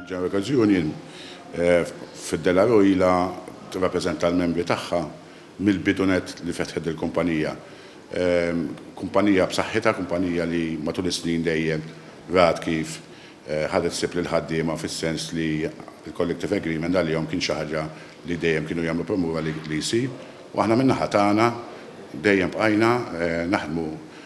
Ġara okkażjoni f'Della Roila tirrappreżenta l-membri tagħha mill-bidu nett li fetħet dil-kumpanija. Kumpanija b'saħħitha, kumpanija li matul is-snin dejjem rat kif ħadet ħsieb lill-ħaddiema fis-sens li l-collective agreement għalihom kien xi ħaġa li dejjem kienu jagħmlu promura li jsir. U aħna min-naħa tagħna dejjem bqajna naħdmu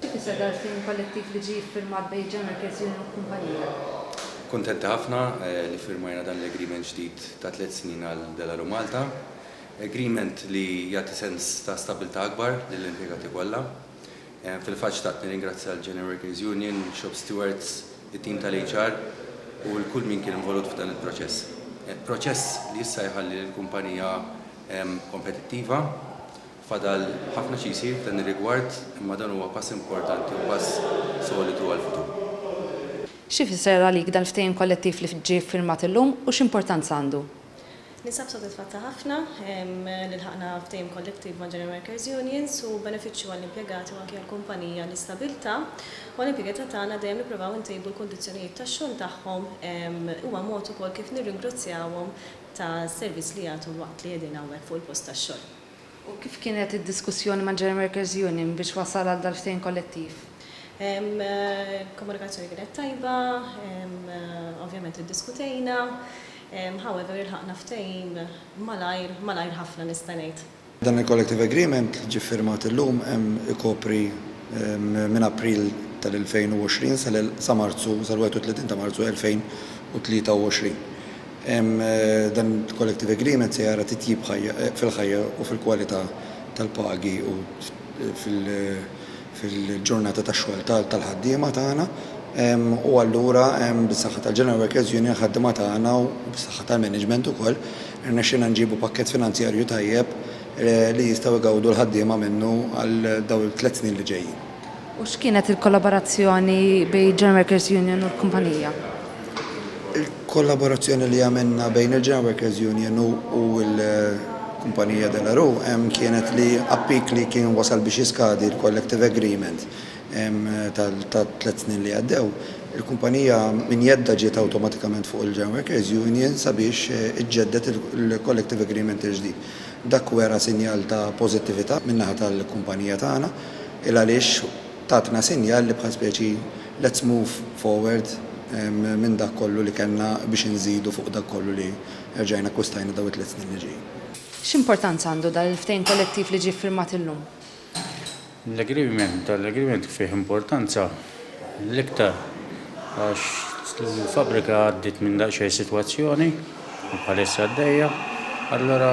Xi tfisser dan il-ftehim kollettiv li ġie ffirmat bejn il-General Workers Union u l-kumpanija? Kuntenti ħafna li ffirmajna dan l-agreement ġdid ta' tliet snin għal Delaru Malta. Agreement li jagħti sens ta' stabbiltà akbar lill-impjegati kollha. Fil-fatt xtaqt nirringrazzja l-General Workers Union, shop stewards, it-tim tal-HR u 'l kull min kien involut f'dan il-proċess. Proċess li issa jħalli lill-kumpanija kompetittiva. Fadal ħafna xi jsir f'dan ir-rigward imma dan huwa pass importanti u pass solidu għall-futur. X'ifisser għalik dan il-ftehim kollettiv li ġie ffirmat illum u x'importanza għandu? Ninsab sodisfatta ħafna li lħaqna ftehim kollettiv ma' General Workers' Unions. Hu benefiċċju għall-impjegati u anki għall-kumpanija l-istabbiltà u għall-impjegata tagħna dejjem nippruvaw intejbu l-kundizzjonijiet tax-xogħol tagħhom. Huwa mod ukoll kif nirringrazzjawhom tas-servizz li jagħtu waqt li qegħdin hawnhekk fuq il-post tax-xogħol. U kif kienet id-diskussjoni mal-General Workers Union biex wasal għal dal-ftehim kollettiv? Il-komunikazzjoni kienet tajba, ovvjament iddiskutejna, however ilħaqna ftehim malajr, malajr ħafna nista' ngħid. Dan il-Collective Agreement li ġie ffirmat illum ikopri minn April tal-2020 sa Marzu, sal-31 ta' Marzu 2023. Dan il-Collective Agreement se jara titjib fil-ħajja u fil-kwalità tal-pagi u fil-ġurnata tax-xogħol tal-ħaddiema tagħna u allura bis-saħħa tal-General Workers Union, ħaddiema tagħna u bis-saħħa tal-management ukoll irnexxielna nġibu pakkett finanzjarju tajjeb li jistgħu jgawdu l-ħaddiema minnu għal dawn it-tliet snin li ġejjin. U x'kienet il-kollaborazzjoni bejn il-General Workers Union u l-kumpanija? Il-kollaborazzjoni li għamilna bejn il-General Workers Union u l-kumpanija De La Rue ehm, kienet li appik li kien wasal biex jiskadi l-collective agreement ehm, tat-tliet snin li għaddew, il-kumpanija minn jeddha ġiet awtomatikament fuq il-General Workers Union sabiex eh, iġġedded il-collective agreement il-ġdid. Dak wera sinjal ta' pożittività min-naħa tal-kumpanija tagħna. 'il għaliex tatna sinjal li bħal speċi let's move forward minn dak kollu li kellna biex inżidu fuq dak kollu li erġajna akkwistajna dawn it-tliet snin li ġejjin. X'importanza għandu dan il-ftehim kollettiv li ġie ffirmat illum? L-agreement, dan l-agreement fih importanza l-iktar għax l-fabbrika għaddiet minn daqsxejn sitwazzjoni. bħalissa għaddejja. Allura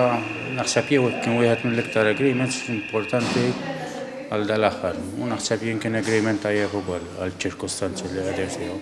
naħseb jew kien wieħed mill-iktar agreements importanti għal dal-aħħar u naħseb jien kien agreement tajjeb ukoll għall-ċirkustanzi li qegħdin fihom.